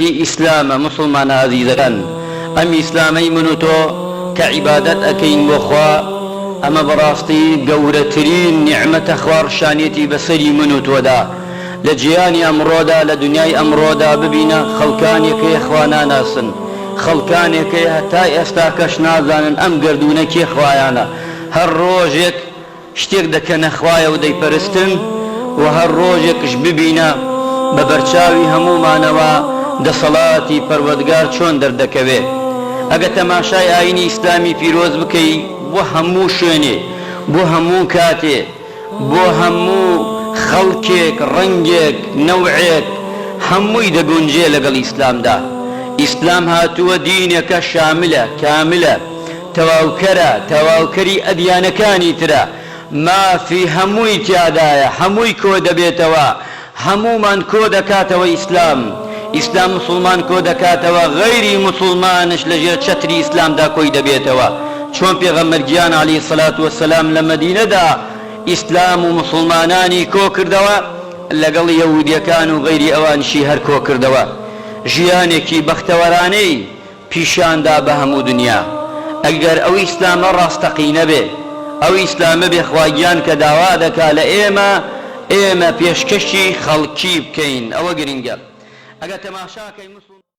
ئەمەتی ئیسلامە موسڵمانە ئازیزەکان ئەم ئیسلامەی من و تۆ کە عیبادەت ئەکەین بۆ خوا ئەمە بەڕاستی گەورەترین نیعمەتە خوا ڕشانیەتی بەسەری من و تۆدا لە جیانی ئەمڕۆدا لە دنیای ئەمڕۆدا ببینە خەڵکانێک هەیە خوا ناناسن خەڵکانێک هەیە هەتا ئێستاکەش نازانن ئەم گەردوونە کێ خوایانە هەر ڕۆژێک شتێک دەکەنە خوایە و دەیپەرستن و هەر ڕۆژێکش ببینە بە بەرچاوی هەموومانەوە دەسەڵاتی پەروەدگار چۆن دەردەکەوێ ئەگە تەماشای ئاینی ئیسلامی پیرۆز بکەی بۆ هەموو شوێنێ بۆ هەموو کاتێ بۆ هەموو خەڵکێک ڕەنگێک نەوعێک هەمووی دەگونجێ لەگەڵ ئیسلامدا ئیسلام هاتووە دینێکە شاملە کاملە تەواوکەرە تەواوکەری ئەدیانەکانی ترە مافی هەمووی تیادایە هەمووی کۆدەبێتەوە هەموومان کۆدەکاتەوە ئیسلام ئیسلام موسڵمان کۆدەکاتەوە غەیری موسڵمانش لەژێر چەتری ئیسلامدا کۆی دەبێتەوە چۆن پێغەمبەر گیان علی الصلوة والسلام لە مەدینەدا ئیسلام و موسڵمانانی کۆکردەوە لەگەڵ یەهودیەکان و غەیری ئەوانیشی هەر کۆکردەوە ژیانێکی بەختەوەرانەی پیشان دا بە هەموو دنیا ئەگەر ئەو ئیسلامە ڕاستەقینە بێ ئەو ئیسلامە بێ خوا گیان کە داوا دەکا لە ئێمە ئێمە پێشکەشی خەڵکی بکەین ئەوە گرنگە ئەگەر تەماشا کەین